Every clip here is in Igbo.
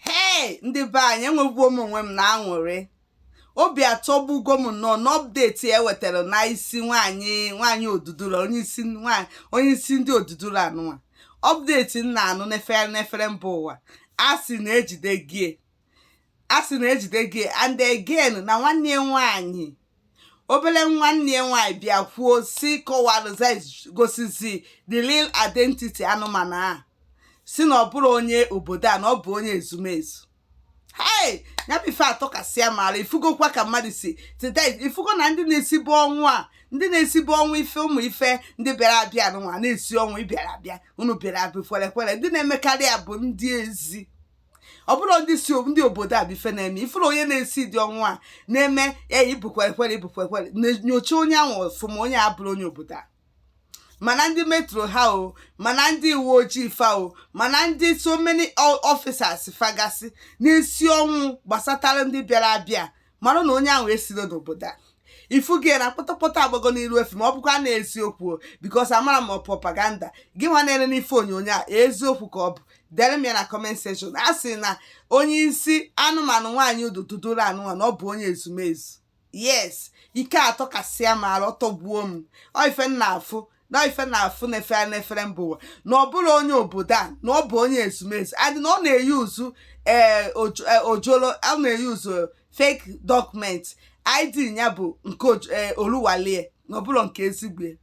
hei ndị be anyị enwegbuo m onwe m na aṅụrị obi atọgbugo m nnọọ n'update e wetara n'isi nwaanyị nwaanyị odudula onye isi ndị odudula anụnwa update m na-anụ n'efere n'efere mba ụwa a sị na ejide gie a sị na ejide gie and again na nwanne ya nwaanyị obere nwanne ya nwaanyị bịa kwuo si kọwalụza gosizi the real identity anụmanụ a sị na ọ bụrọ onye obodo a na ọ bụ onye ezumezu hei ya bụ ife atọkasịa m ara ifugokwa ka mmadụ si teta ifugo na ndị na-esibu ọnwụ a ndị na-esibu ọnwụ ife ụmụ ife ndị bịara abịa nwa na-esi ọnwụ ị bịara abịa unu bịara abịa kwerekwere ndị na-emekarị ya bụ ndị ezi ọ bụrọ ndị si ndị obodo a bụ ife na-eme ị fụrụ onye na-esi ụdị ọnwụ a na-eme ya ị bụ kwerekwere ị bụ kwerekwere nyocha onye ahụ ọfụma onye a abụrọ onye obodo a ma na ndị metro ha o ma na ndị uwe ojii fa o ma na ndị so many officers fa gasị na-esi ọnwụ gbasatara ndị bịara abịa mara na onye ahụ esiro n'obodo a ifugo na kpọtọkpọtọ agbago n'iru efi ma ọ bụkwa na eziokwu because amara m propaganda gị nwa na-ere n'ife onyonyo a eziokwu ka ọ bụ dere m ya na comment section a sị na onye isi anụmanụ nwaanyị odudula anụnwa na ọ bụ onye ezumezu yes ike atọkasịa m ara ọ tọgbuo m ọ ife m na-afụ na ife na-afụ na-efe a n'efere mba ụwa na ọ bụrọ onye obodo a na ọ bụ onye ezumezu and na ọ na-eyuuzu ee ojo- eh, ojoro ọ na-eyuuzu fake document id ya bụ nke Oj- eh, oluwole na ọ bụrọ nke ezigbo ya.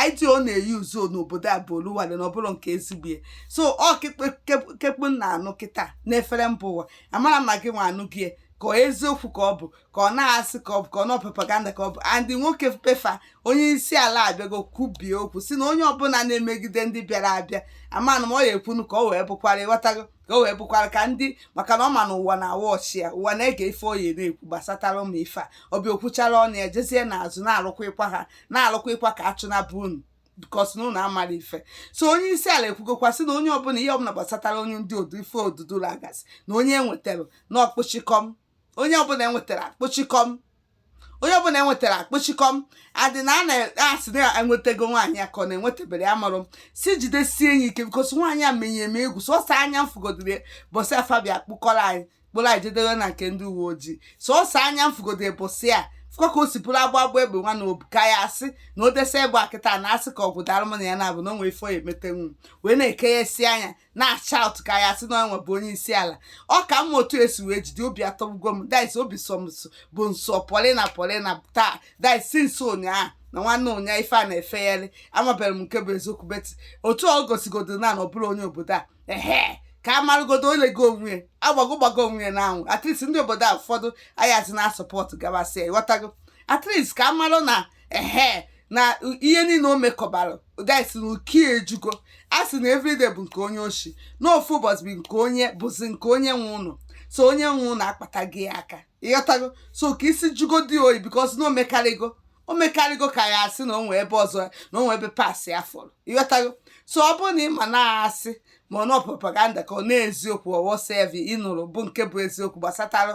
id ọ na-eyuuzu n'obodo a bụ oluwole na ọ bụrọ nke ezigbo ya. so ọ kekpe- kep- ke kpụ n'ọnụ kịta n'efere mba ụwa amarọ m ma gị nwa anụgo ya, ka ọ eziokwu ka ọ bụ ka ọ na asị ka ọ bụ ka ọ na propaganda ka ọ bụ and nwoke be fa onye isi ala abịago kwubie okwu sị na onye ọbụla na-emegide ndị bịara abịa amanụ m ọ ya-ekwunu ka ọ wee bụkwara ịghọtago ka ọ wee bụkwara ka ndị maka na ọ ma na ụwa na-awatch ya ụwa na-ege ife ọ ya na-ekwu gbasatara ụmụ ife a ọ bịa o kwuchara ọnụ ya jezie n'azụ na-arụkwa ịkwa ha na-arụkwa ịkwa ka a chụnaba unu because na unu amarọ ife so onye isi ala ekwugokwa sị na onye ọbụla ihe ọbụla gbasatara onye ndị odu ife odudula gasị na onye enwetara na akpọchikọm onye ọbụla enwetara kpọchikọm onye ọbụla enwetara kpọchikọm and na a na-asị na enwetago nwaanyị a ka ọ na enwetaberọ ya amarọ m sị jidesie ya ike because nwaanyị a menyere m egwu sọsọ anya m fụgodiri bọsị a fa bịa kpụkọrọ anyị kpụrụ anyị je debe na nke ndị uwe ojii sọsọ anya m fụgodiri bọsị a fụkwa ka o si bụrụ agba agba egbe nwa na obu ka ya asị na o desa egbe akịta na asị ka ọgwụ dara m na ya na-abụ na o nwee ife ọ ya-emetenwu wee na-eke ya esi anya na-acha ụtụ ka ya sị na onwe bụ onye isi ala ọ ka mma otu e si wee jide obi atọgbugo m guys obi sọmso bụ nsọ polina polina taa guys since ụnyaahụ na nwanne ụnyaahụ ife a na-efegharị amabere m nke bụ eziokwu but otu ọ gosigodo na na ọ bụrụ onye obodo a ehe ka a marụgodo onye gị onwe ya agbago gbago onwe ya n'anwụ at least ndị obodo a ụfọdụ ayazi na-asupport gabasịa ịghọtago at least ka a marụ na ehe na ihe niile o mekọbara guys na iko ejugo a sị na everyday bụ nke onye oshi na ofu ụbọchị bụ nke onye bụzi nke onye nwe ụlọ so onye nwe ụlọ akpata gị aka ịghọtago so ka isi jugodị oyi because na o mekarịgo o mekarịgo ka ya asị na o nwe ebe ọzọ na o nwe ebe pasị ya fọrọ ịghọtago so ọ bụrụ na ị ma na-asị ma ọ na propaganda ka ọ na eziokwu or whatsoever ịnụrụ bụ nke bụ eziokwu gbasatara